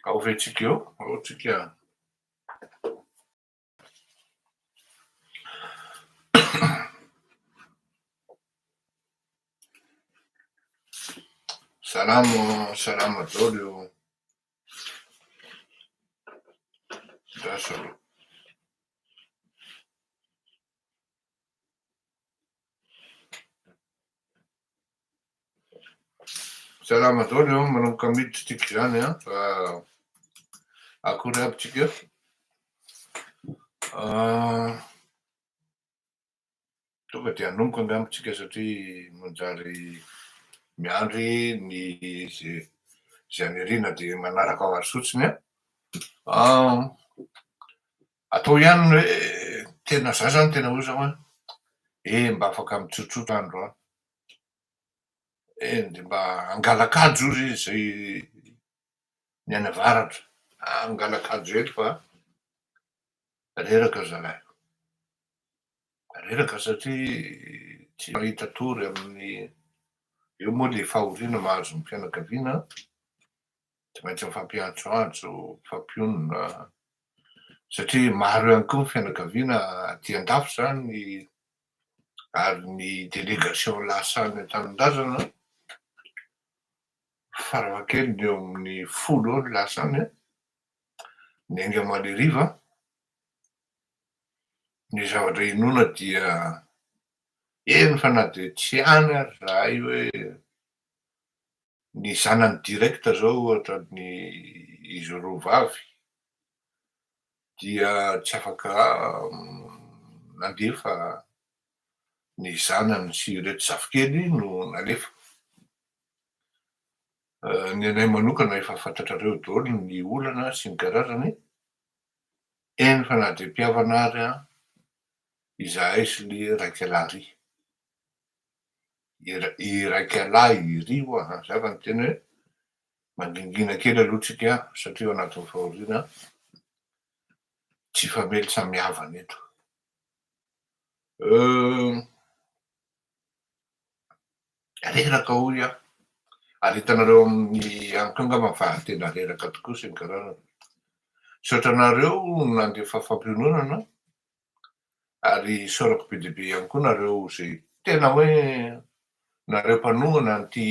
Ao ve tsika eo? Ao tsika. Salamo, salamo daholo eo. Lasa aloha. Salama daholo an, manomboka miditra tsika izany an, fa akory aby tsika. Tonga dia hanomboka angamba tsika satria manjary miandry ny izay izay aniriana dia manaraka azy fotsiny an. Atao ihany ny hoe tena za zany tena hoe zao an, eh mba afaka mitsotsotra andro an, Eny dia mba hangalak'ajo ozy izay ny any avaratra. Aah hangalak'ajo eto fa reraka zalahy. Reraka satria tsy mahita tory amin'ny, eo moa ilay fahoriana mahazo ny fianakaviana an, tsy maintsy mifampiantsoantso, mifampionona satria maro ihany koa ny fianakaviana aty an-dafy izany ary ny delegation lasa any an-tanindrazana farafahakeliny eo amin'ny folo eo no lasa any an, ny ainga maleriva, ny zavatra hinoana dia eny fa na dia tsy any ary zahay hoe ny zanany direct zao ohatra ny izy roa vavy dia tsy afaka nandefa ny zanany sy ireto zafikely no nalefa. Ny anay manokana efa fantatrareo daholo ny olana sy ny karazany, eny fa na dia mpihavana ary izahay sy le Raikalaria. iraikalahy iry hoa an! Zay vao niteny hoe mangingina kely aloha tsika satria ao anatin'ny fahoriana tsy famely samy havana eto. Reraka hoy aho ary hitanareo amin'ny amiko angamba fa tena reraka tokoa sy ny karazany. Misaotra anareo nandefa fampiononana ary isaorako be dia be ihany koa nareo izay tena hoe nareo mpanohana an'ity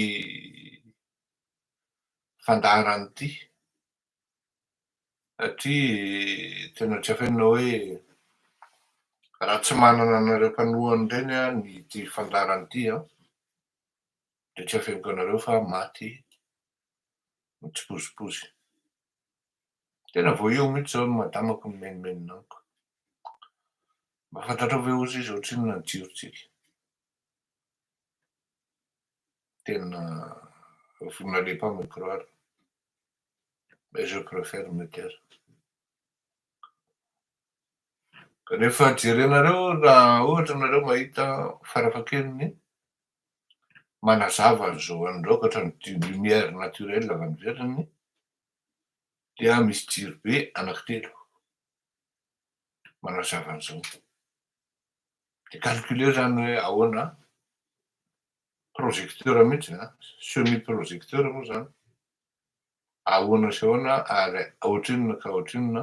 fandaharana ity satria tena tsy afenina hoe raha tsy manana anareo mpanohana ireny aho ny ity fandaharana ity an dia tsy afeniko anareo fa maty mitsipozipozy Tena vao eo mihitsy izao ny madamako nimenomenona amiko. Mba fantatrao ve ozy izy ohatrinona ny jirontsika? Tena vous n'allez pas me croire mais je préfère me taire. Rehefa jerenareo raha ohatra ianareo mahita farafahakeliny manazava ny zo an'ny raokatra ny du lumière naturelle avy any ivelany dia misy jiro be anaky telo manazava an'izao dia calculer izany hoe ahoana projecteur mihitsy a semi projecteur moa izany ahoana sy ahoana ary ohatrinona ka ohatrinona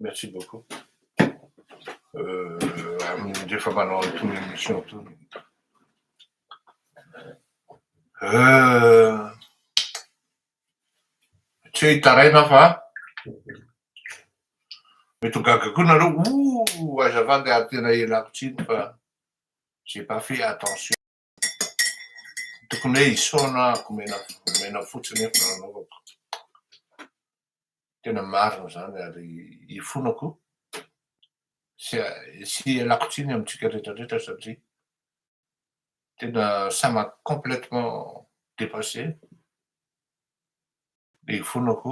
Merci beaucoup. Amin'ny rehefa manao an'itony émission itony. Tsy hoe hitaraina aho fa mety ho gaga koa nareo oh aiza va ndeha tena ialako tsiny fa j'ai pas fait attention. Tokony hoe isaona aho omena fotsiny eto no anaovako. Tena marina izany ary ifonako sy sy ialako tsiny amintsika rehetra rehetra satria tena ça m'a complètement dépassé. Dia ifonako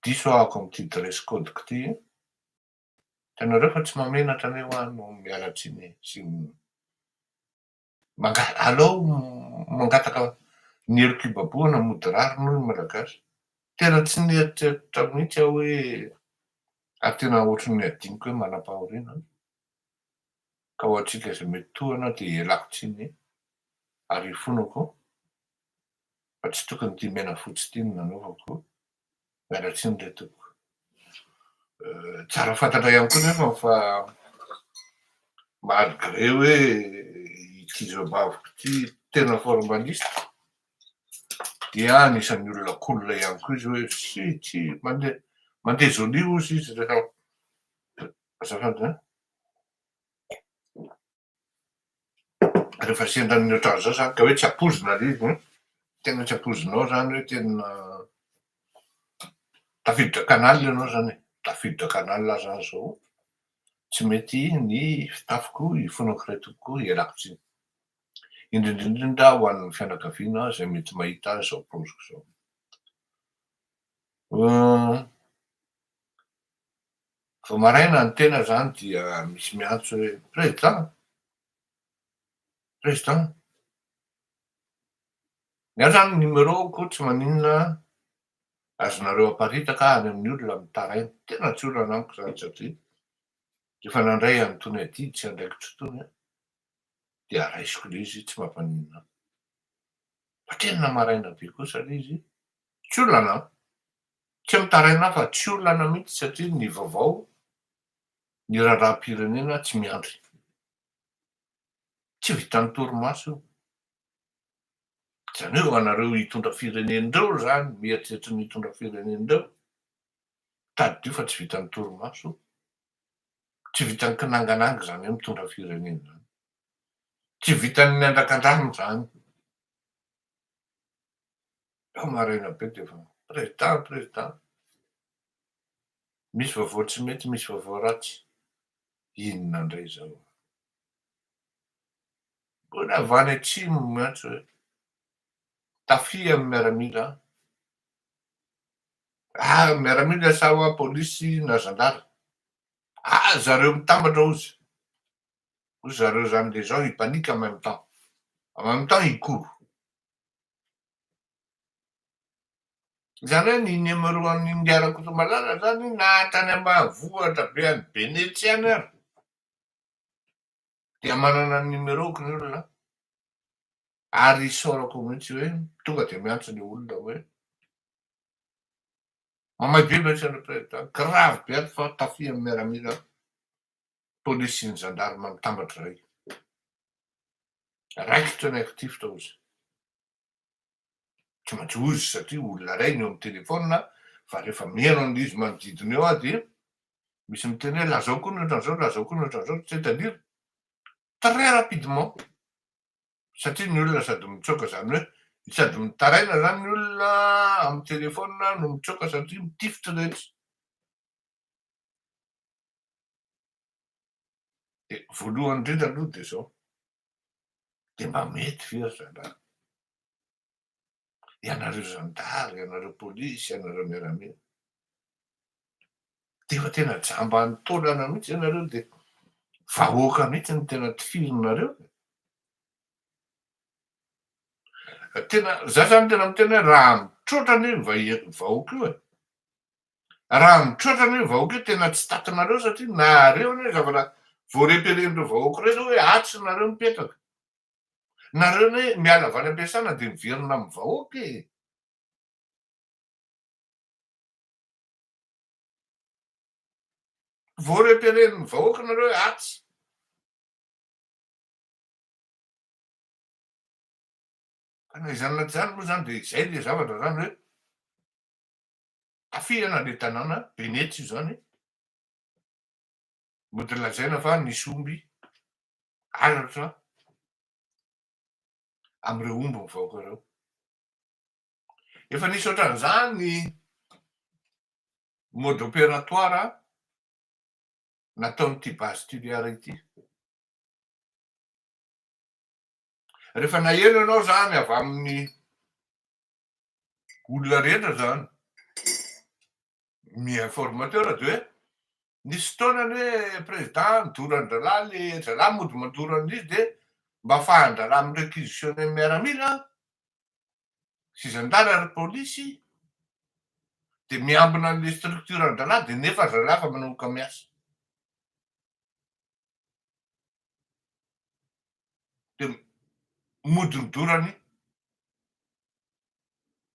diso aho ato amin'ity dress code-ko ity. Hitanareo fa tsy mahamenatra anie hoa no miala tsiny sy manga- alao mangataka ny hery kibabohana mody rariny hoy ny malagasy. Tena tsy nieritreritra mihitsy aho hoe ary tena ohatry ny adinoko hoe manam-pahoriana aho ka ho antsika izay mety tohana dia ialako tsiny ary ifonako fa tsy tokony ity menafotsy ity no nanaovako Miala tsiny re tompoko. Tsara fantatra ihany koa nefa fa malgré hoe ity zobaviko ity tena formaliste dia anisan'ny olona cool ihany koa izy hoe si si mandeha mandeha jolie ozy izy rehefa azafady an. Rehefa sendra ny ohatran'izao izany ka hoe tsy ampoizina ilay izy, tena tsy ampoizinao izany hoe tena tafiditra canal ianao izany e, tafiditra canal aza aho izao tsy mety ny fitafiko, ifonako iray tobiko, ialako tsiny. Indrindra indrindra ho an'ny fianakaviana izay mety mahita izao paoziko izao. Vao maraina ny tena zany dia misy miantso hoe Président! Président! Ny ahy zany numéro ko tsy maninona azonareo aparitaka any amin'ny olona mitaraina, tena tsy olana amiko zany satria rehefa nandray an'itony adidy sy andraikitro itony aho dia araisiko le izy tsy mampaninona ahy. Fa tena maraina be kosa le izy tsy olana an! Tsy mitaraina aho fa tsy olana mihitsy satria ny vaovao ny raharaham-pirenena tsy miandry. Tsy vitan'ny torimaso io. Izany hoe anareo hitondra firenena ireo izany mieritreritra ny hitondra firenena ireo tadidio fa tsy vitan'ny torimaso, tsy vitan'ny kinangananga izany hoe mitondra firenena izany. Tsy vitan'ny andrakandrano izany. Fa maraina be dia efa président président. Misy vaovao tsy mety misy vaovao ratsy. Inona indray izao. Mbola avy any atsimo no miantso hoe tafia amin'ny miaramila ah miaramila sa wa polisy na zandary ah zareo mitambatra ozy Ry zareo zany de zao ils paniquent en même temps en même temps ils courent. Zany hoe ny numéro an'i Ingahy Rakotomalala zany na tany ambanivohitra be any Benetsy any ary dia manana ny numéro-ko ny olona ary isaorako mihitsy hoe tonga dia miantso le olona hoe mamay be ve ianareo président grave be ato fa tafihan'ny miaramila polisin'ny zandarma mitambatra izay. Raikitra ny actif tao izy. Tsy maintsy hoy izy satria olona iray no eo amin'ny téléphone fa rehefa mihaino an'ilay izy manodidina eo aho dia misy miteny hoe lazao koa ny ohatran'izao, lazao koa ny ohatran'izao, tu sais, c'est-à-dire très rapidement satria ny olona sady mitsoaka izany hoe sady mitaraina izany ny olona amin'ny téléphone no mitsoaka satria mitifitra rehetra. Dia voalohany indrindra aloha dia izao, dia mba mety ve ry zalahy, ianareo zandary, ianareo polisy, ianareo miaramila, dia efa tena jamban'ny taolana mihitsy ianareo dia vahoaka mihitsy no tena tifirinareo e? Tena, za zany tena miteny hoe raha mitroatra anie ny vahoaka io e, Raha mitroatra anie ny vahoaka io tena tsy takinareo satria nareo anie zavatra vao reperen'ireo vahoaka ireo zao hoe atsy nareo mipetraka. Nareo anie miala avy any am-piasana dia miverina amin'ny vahoaka e. Vao reperen'ny vahoaka nareo hoe atsy. Ka na izany na tsy izany moa izany dia izay ilay zavatra izany hoe Afihana ilay tanàna, Venetsia izany, mody lazaina fa nisy omby halatra amin'ireo omby mivaoka ireo. Efa nisy ohatran'izany ny mode opératoire nataon'ity base Tuléar ity. Rehefa nahery ianao izany avy amin'ny olona rehetra izany mi informateur dia hoe nisy fotoana ny hoe président nidoran-drahalahy le zalahy mody mandoro an'izy dia mba afahan-drahalahy mi-réquisitionner ny miaramila sy zandary ary polisy dia miambina an'le structure an-drahalahy dia nefa ry zalahy efa manomboka miasa dia modorodorany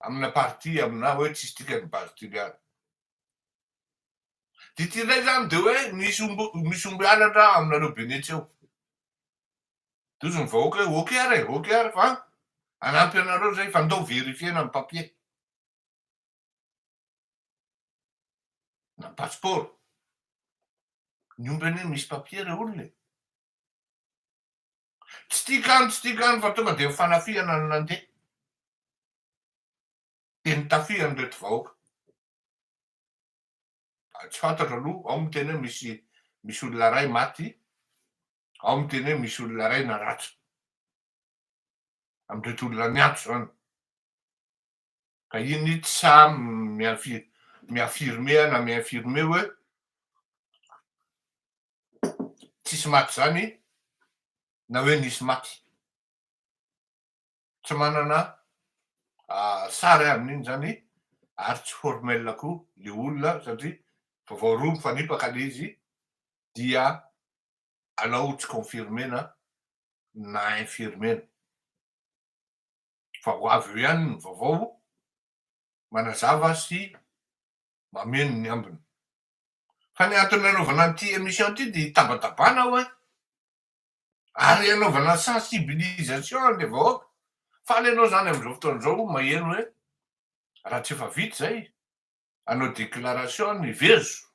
amina partie amina hoe tsisy dikany partie miala. Dia ity indray izany dia hoe misy omby misy omby halatra aminareo benetsy eo. Dia hozy ny vahoaka hoe ok ary e, ok ary fa hanampy anareo izay fa ndao verifier-na ny papier. na passeport. Ny omby anie misy papier le olona e! Tsy tia kany tsy tia kany fa tonga dia ny fanafihana no nandeha. Dia nitafia an'ireto vahoaka. Tsy fantatro aloha, ao miteny hoe misy misy olona iray maty, ao miteny hoe misy olona iray naratra. Amin'ireto olona miantso izany. Ka iny ny tsy sahy mi-affirmer na mi-infirmer hoe tsisy maty izany na hoe nisy maty. Tsy manana sary amin'iny izany ary tsy formel koa ilay olona satria efa vao roa mifanipaka ilay izy dia alao tsy confirmer-na na infirmer-na. fa ho avy eo ihany ny vaovao manazava sy mameno ny ambiny. Fa ny antony nanaovana an'ity emission ity dia hitabatabana aho an! Ary hanaovana sensibilisation an'ilay vahoaka. Faly ianao izany amin'izao fotoana izao maheno hoe raha tsy efa vita izay, hanao déclaration ny vezo,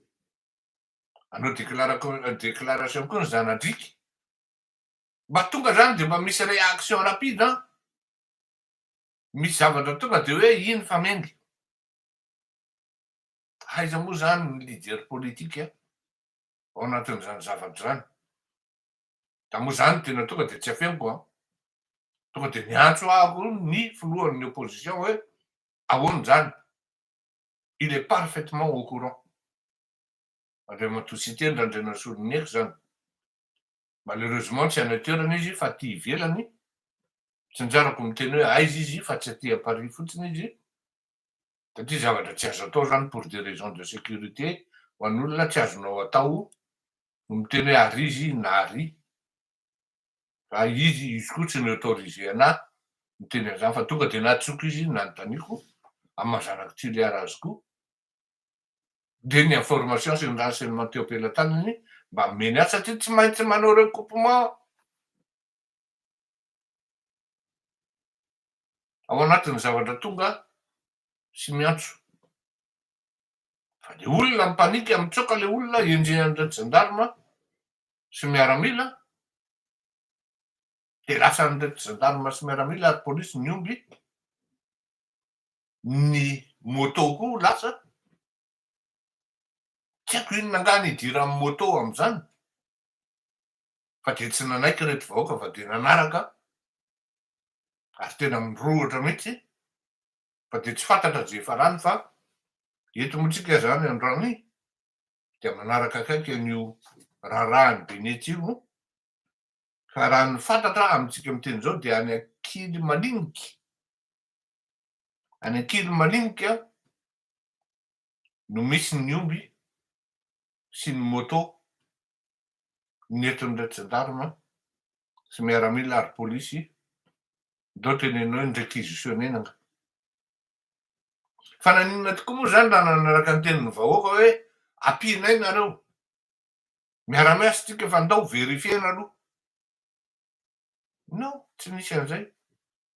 hanao déclara-déclaration koa ny zana-driaka. mba tonga zany de mba misy réaction rapide an! misy zavatra tonga de hoe iny fa mendy! aiza moa zany ny leader politique ao anatin'izany zavatra zany? da moa zany no tena tonga de tsy afeniko an! tonga de miantso ahy ko ny filohan'ny opposition hoe ahoana zany? il est parfaitement au courant! Andriamatoa Siteny Randrianasoloniaiko zany Malheureusement tsy any an-toerana izy fa aty ivelany, tsinjarako miteny hoe aiza izy fa tsy aty à Paris fotsiny izy, satria zavatra tsy azo atao zany pour des raisons de sécurité ho an'olona tsy azonao atao no miteny hoe ary izy inona ary fa izy, izy koa tsy mi autoriser anah miteny an'izany fa tonga dia natsoko izy nanontaniako amin'ny maha zanak'i Toliara azy koa. dia ny information sy ny renseignement teo am-pelatanany mba omeny azy satria tsy maintsy manao recoupement ao anatin'ny zavatra tonga sy miantso fa le olona mipanika mitsoaka le olona henjehan'ireo gendarme sy miaramila dia lasan'ireo gendarme sy miaramila ary polisy ny omby ny moto koa lasa, tsy haiko inona angaha ny idiran'ny moto amin'izany fa dia tsy nanaiky ireto vahoaka fa dia nanaraka ary tena mirohotra mihitsy fa dia tsy fantatra izay ifarany fa eto moa tsika izany androany dia manaraka akaiky an'io raharahan'i Benety io ka raha ny fantatra amintsika miteny izao dia any Ankilimaliniky Any Ankilimaninika no misy ny omby sy ny moto nietran'ireto Gendarme sy miaramila ary polisy ndao teneno eny requisitionner ny angaha. Fa naninona tokoa moa izany raha nanaraka ny tenin'ny vahoaka hoe ampianay nareo. Miara-miasa tsika fa ndao verifier-na aloha. Non, tsy nisy an'izay.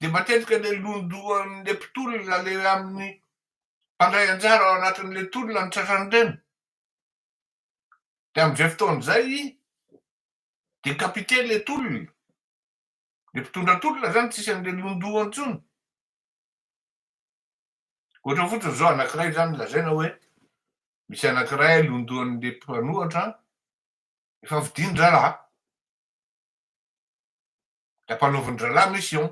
dia matetika ilay londohan'ilay mpitolona ilay amin'ny mpandray anjara ao anatin'ilay tolona ny tratran'ireny. Dia amin'izay fotoana izay dia kapite ilay tolona. Ilay mpitondra tolona izany tsy isan'ilay londoha intsony. Ohatra fotsiny izao anankiray izany lazaina hoe misy anankiray londohan'ilay mpanohatra efa vidian-draharaha. Ilay mpanaovin'ny drala mi sion.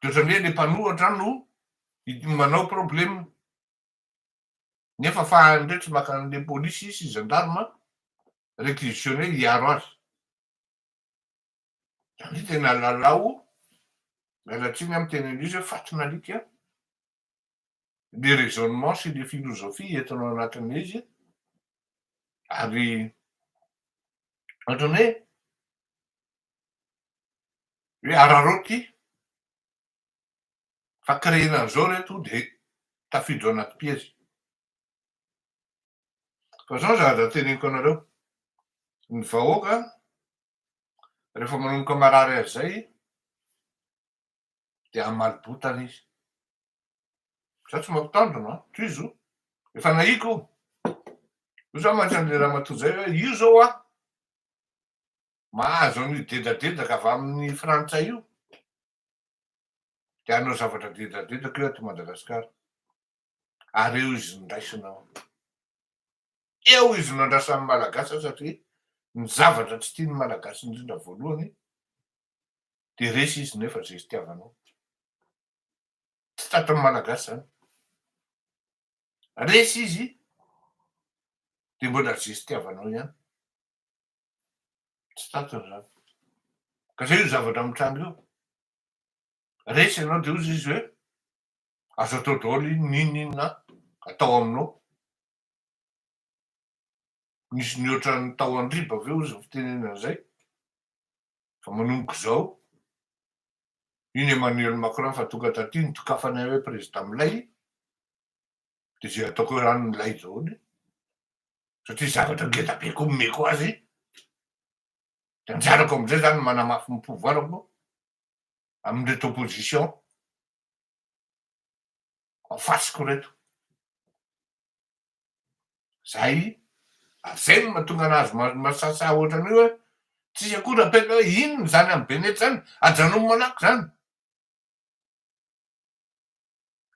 Dia ohatran'ny hoe ilay mpanohatra no manao problème. Nefa fahany indray tsy maka an'ilay polisy sy gendarme réquisitionné hiaro azy. Izany hoe tena lalao, miala tsiny amin'ny teny Anglisy hoe fatin'alika, le raisonnement sy le philosophie entina ao anatin'ilay izy ary ohatran'ny hoe hoe araraoty ity fa créena an'izao ry reto dia tafiditra ao anaty piège fa izao ny zavatra teneniko anareo ny vahoaka rehefa manomboka marary azy izay dia hamaly botana izy. Za tsy mampitandrina an, tohizo, efa nahiko. Io za mantsy an'le ramatoa zay hoe io zao an, mahazo an'io dedadedaka avy amin'ny frantsay io, dia hanao zavatra dedadedaka io ato Madagasikara, ary eo izy nondraisina ao. Eo izy no andrasan'ny Malagasy satria ny zavatra tsy tian'ny Malagasy indrindra voalohany dia resy izy nefa zay itiavanao. Tsy tratran'ny malagasy zany. Resy izy dia mbola zay itiavanao ihany. Tsy tratrany zany. Ka zay io zavatra mitranga io. Resy ianao dia hozy izy hoe azo atao daholo iny n'inona n'inona atao aminao. Nisy nihoatra ny tao Andriba ve ozy ny fitenenana izay? Fa manomboka izao, iny Emmanuel Macron efa tonga taty nidokafana hoe prezida milay, dia izay ataoko hoe rano milay daholo, satria zavatra ngeda be koa omeko azy, dia anjarako amin'izay izany ny manamafy ny pouvoirako amin'ireto opposition en face-ko ireto. Zay, ary zay no mahatonga anazy masasa ohatran'io hoe tsisy akory apetraka hoe inona zany am benety zany, ajanony malaky zany.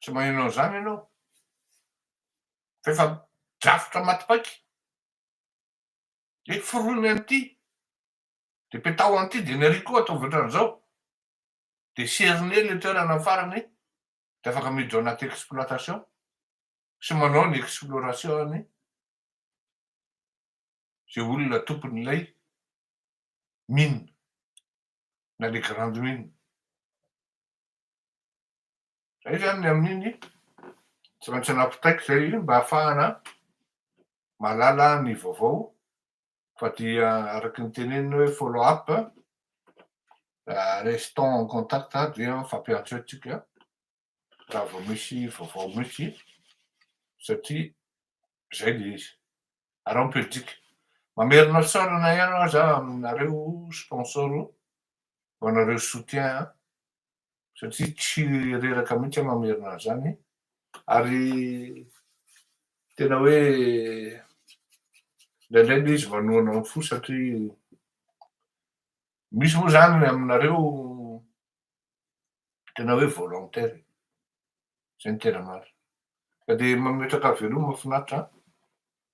Tsy maheno an'zany ianao fa efa drafitra maty paika. Hoe foronina an'ity, de petaho an'ity de ny arỳ koa ataovy ohatran'zao, de serone le toerana farany dia afaka miditra ao anaty exploitation sy manao ny exploration any izay olona tompon'ilay mine na le grande mine. Izay izany ny amin'iny tsy maintsy anapitaiko izay mba hahafahana mahalala ny vaovao Fa dia araka ny tenenina hoe follow up, restons en contact dia mifampiantso eo tsika raha vao misy vaovao mihitsy satria zay le izy. Ary ao ny Belgique. Mamerina sôrana ihany aho za aminareo sponsor ho anareo soutien satria tsy reraka mihitsy aho mamerina an'izany ary tena hoe indraindray ilay izy manohana ny fo satria misy moa izany ny aminareo tena hoe volontaire izay ny tena marina ka dia mametraka veloma finaritra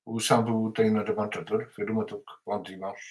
ho sambo tahin'Andriamanitra daholo veloma tompoko bon dimanche